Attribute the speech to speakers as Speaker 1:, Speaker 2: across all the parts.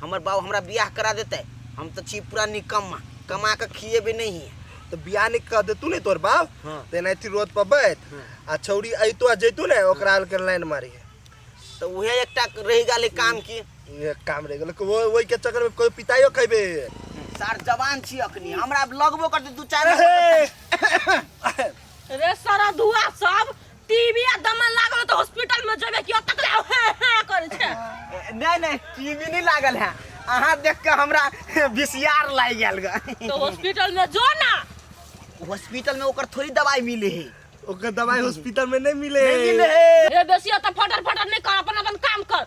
Speaker 1: हमर बाबू हमरा बियाह करा देते हम तो छी पूरा निकम्मा कमा के खिएबे नहीं है तो बियाह नहीं कर
Speaker 2: देतू नहीं तोर बाप हाँ। तो एनाहिते रोड
Speaker 1: पर
Speaker 2: बैठ हाँ। आ छौरी अयतो आ जैतो ने ओकरा आल के लाइन मारी है तो उहे
Speaker 1: एकटा रह गेल काम की ये काम रह गेल
Speaker 2: वो वही के चक्कर में कोई पिताइयो खैबे सार जवान
Speaker 1: छी अखनी हमरा लगबो करते दू चार अरे
Speaker 3: सारा धुआ सब टीवी आ दमा लागल तो हॉस्पिटल में जेबे कि तक ले हे हे करे छे नहीं नहीं
Speaker 1: टीवी नहीं लागल है अहाँ देख के हमरा बिसियार लाग गेल ग तो हॉस्पिटल में
Speaker 3: जो ना हॉस्पिटल
Speaker 1: में ओकर थोड़ी दवाई मिले है ओकर दवाई
Speaker 2: हॉस्पिटल में नहीं मिले नहीं मिले है ए बेसिया
Speaker 3: त फटर फटर नहीं कर अपन अपन काम कर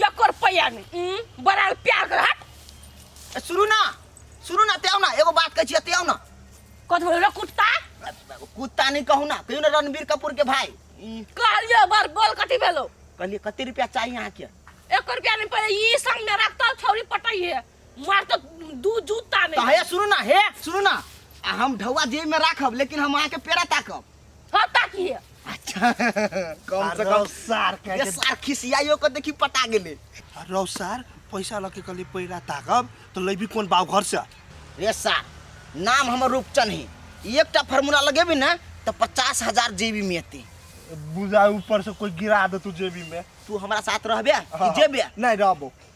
Speaker 1: या कर
Speaker 3: पैया ने हम्म, बड़ा प्यार कर हट ए, सुनू ना
Speaker 1: सुनू ना तेव ना एगो बात कहै छियै तेव ना कथी बोल
Speaker 3: कुत्ता कुत्ता
Speaker 1: नहीं कहू ना कहियो ना रणबीर कपूर के भाई ई, कहलियो बर
Speaker 3: बोल कथी भेलो कहलिए कते रुपया
Speaker 1: चाहिए अहाँ के एक रुपया नहीं पड़े
Speaker 3: ई संग में रखता छौरी पटाई है मार तो दू जूता में तऽ हे सुनू ना हे
Speaker 1: सुनू
Speaker 3: ना
Speaker 1: आ हम ढौआ जेब में राखब लेकिन हम अहाँके पेड़ा ताकब हाँ ताकि
Speaker 3: है अच्छा
Speaker 1: कम से कम सार कह ये के सार
Speaker 2: खिसियाइयो
Speaker 1: के देखी पटा गेले रौ सार
Speaker 2: पैसा लके कली पैरा ताकब तो लैबी कोन बाव घर से रे सार
Speaker 1: नाम हमर रूपचन ही एकटा फार्मूला लगेबी ना तो पचास हजार जेबी में एती बुझा ऊपर
Speaker 2: से कोई गिरा दे तू जेबी में तू हमरा साथ रहबे
Speaker 1: कि जेबे नहीं रहबो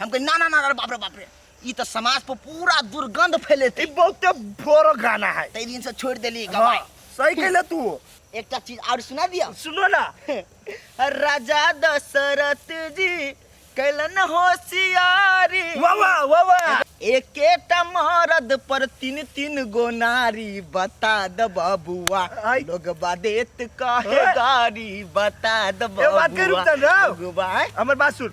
Speaker 1: हम कहे ना ना ना अरे बाप रे बाप रे ई तो समाज पर पूरा दुर्गंध ई फैलेते बहुते
Speaker 2: भोरो गाना है तई दिन से छोड़ देली हाँ,
Speaker 1: गवाई सही
Speaker 2: कहले
Speaker 1: तू
Speaker 2: एकटा चीज और
Speaker 1: सुना दिया सुनो ना राजा दशरथ जी कैलन होशियारी वाह वाह वाह
Speaker 2: वाह एक एक
Speaker 1: मरद पर तीन तीन गो नारी बता द बबुआ आई। लोग
Speaker 2: बादेत
Speaker 1: कहे ओए। गारी बता द ए, बात के बबुआ रुक त
Speaker 2: जाओ। लोगवा, हैं? हमर
Speaker 1: बात सुन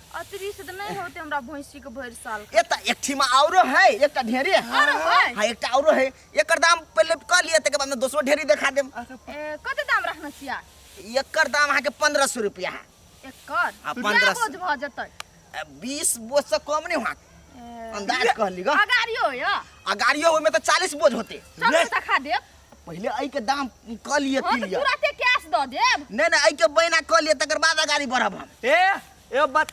Speaker 3: अतरी से तऽ नहि होते हमरा भैंसी के भरि साल के। एता एकठी में औरो
Speaker 1: है एकटा ढेरी है आरो है? हाँ एकटा
Speaker 3: औरो है
Speaker 1: एकर दाम पहले कर लिए तकर बाद में दोसरो ढेरी दिखा देम ए, कते दाम
Speaker 3: रखने छियै एकर दाम अहाँ
Speaker 1: के पंद्रह सौ रुपया है एकर आ, कए
Speaker 3: पन्द्रह सौ। बोझ
Speaker 1: भऽ जेतै आ,
Speaker 3: बीस
Speaker 1: बोझ से कम नहीं हुआ ए, अंदाज कहली ग अगाड़ियो यऽ
Speaker 3: आ गाड़ियों में तो
Speaker 1: चालीस बोझ होते सब देखा देब
Speaker 3: पहिले आई के दाम
Speaker 1: क लिए हाँ पी तो लिया तुरंते कैश
Speaker 3: दो देब नहीं नहीं आई के बहना क
Speaker 1: लिए तकर बाद अगाड़ी बढ़ब हम ए ए बात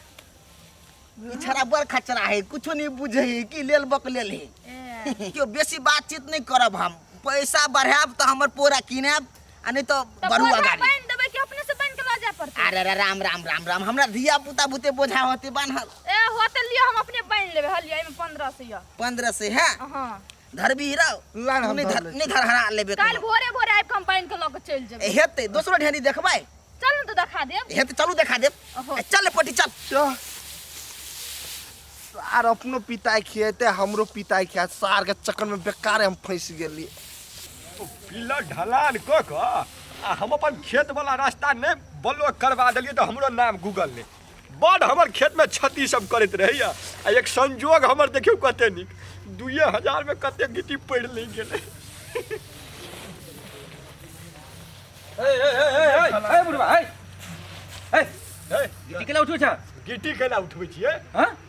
Speaker 2: ई
Speaker 1: छरा बड़ खचरा है कुछो नहीं बुझे है कि लेल बक लेल है ए, क्यों बेसी बातचीत नहीं करब हम पैसा बढ़ाब
Speaker 3: तो
Speaker 1: हमर पोरा किनेब आ नहीं तो
Speaker 3: तो
Speaker 1: बढ़ू बोझा अगाड़ी
Speaker 3: बांध
Speaker 1: देबै कि
Speaker 3: अपने
Speaker 1: से बांध के लऽ जाय पड़तै अरे अरे राम राम राम राम हमरा धिया पुता बुते बोझा होते बान्हल ए होते लियो
Speaker 3: हम अपने बांध लेबै हलिया एहिमे पंद्रह सौ यऽ पंद्रह से है
Speaker 1: हाँ धरबी
Speaker 3: हीरा
Speaker 1: लाड़ हम नहि धर धर- लै
Speaker 2: छी। नहि धरहरा लेबे
Speaker 1: काल्हि कोनो। भोरे भोरे आबि कऽ हम
Speaker 3: पानि के लऽ के चलि जेबै ए, हेतै दोसरो ढेरी देखबै
Speaker 1: चल ने तऽ देखा
Speaker 3: देब हेतै चलू देखा देब ओहो।
Speaker 1: ए, चल पोटी चल चल।
Speaker 2: सार अपनो पिताई खिएते हमरो पिताई खिया सार के चक्कर में बेकार हम फंस गेली
Speaker 4: पिलर ढलान कऽ कऽ आ हम अपन खेतवला रास्ता नहि ब्लॉक करवा देलियै तऽ हमरो नाम गूगल नहि बड हमर खेतमे क्षति सब करैत रहैए आ एक संजोग हमर देखियौ कते नीक दुइए हजारमे कते गिट्टी पड़ि नहि
Speaker 5: गेलै गिट्टी केना उठबै
Speaker 4: छियै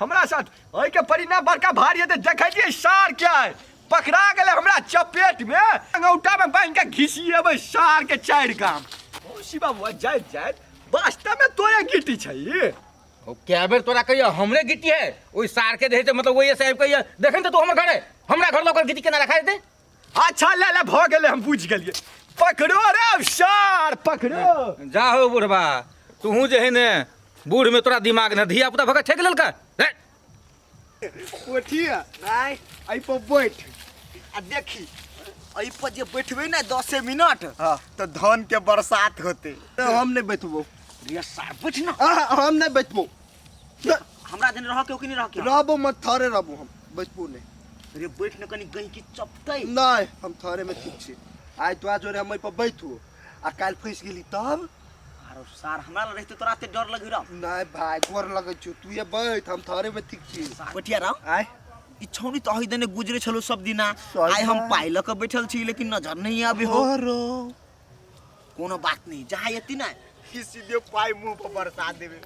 Speaker 4: हमरा साथ ओहि के परिणाम बड़का भारी हेतै देखै छियै सार क्या है पकड़ा गेलै हमरा चपेट में अंगौटा में बांध के घिसिएबै सार के चारि गाम ओ शिवा बुआ जाइत जाइत वास्तव में तोरे गिट्टी छै ई। ओ कए
Speaker 5: बेर तोरा कहियो हमरे गिट्टी है ओहि सार के देहे मतलब ओहि से आबि कहियो देखन तऽ तू हमर घर है हमरा घर लऽ ओकर गिट्टी केना रखा देतै अच्छा ले ले
Speaker 4: भऽ गेलै हम बुझि गेलियै पकड़ो रे अवसर पकड़ो जा हो बुढ़बा
Speaker 5: तूहूँ जे है ने बूढ़ में तोरा दिमाग ने धिया पुता भगत ठेक लेलका हे,
Speaker 2: पोठिया भाई एहि पर बैठ आ देखी
Speaker 1: एहि पर जे बैठबै ने दसे मिनट हाँ। तऽ धान
Speaker 2: के
Speaker 1: बरसात होते हम नहि बैठबो
Speaker 2: रे सार बैठ
Speaker 1: ना हम नहि बैठबो हमरा जन रह के ओकनी रह के रहबो मत थारे रहबो
Speaker 2: हम बचपू ने अरे बैठ
Speaker 1: न कनी
Speaker 2: गई
Speaker 1: की चपतई नहीं हम थारे
Speaker 2: में ठीक छी आइ तो आज रे हम पर बैठू आ काल फंस गेली तब अरे सार
Speaker 1: हमरा ल रहते तोरा ते डर लगी रह नहीं भाई गोर
Speaker 2: लगे छु तू ये बैठ हम थारे में ठीक छी बटिया राम आय
Speaker 1: ई छौनी
Speaker 2: तो अहि
Speaker 1: दने गुजरे छलो सब दिना सही आइ हम बात। पाइ
Speaker 2: ल के
Speaker 1: बैठल छी
Speaker 2: लेकिन
Speaker 1: नजर नहीं आबे हो ओरो कोनो बात नहीं जहाँ यति ना किसी दे पाई मुंह पर बरसा देवे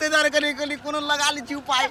Speaker 2: ते जाने कनी कनी कोनो लगा ली छी उपाय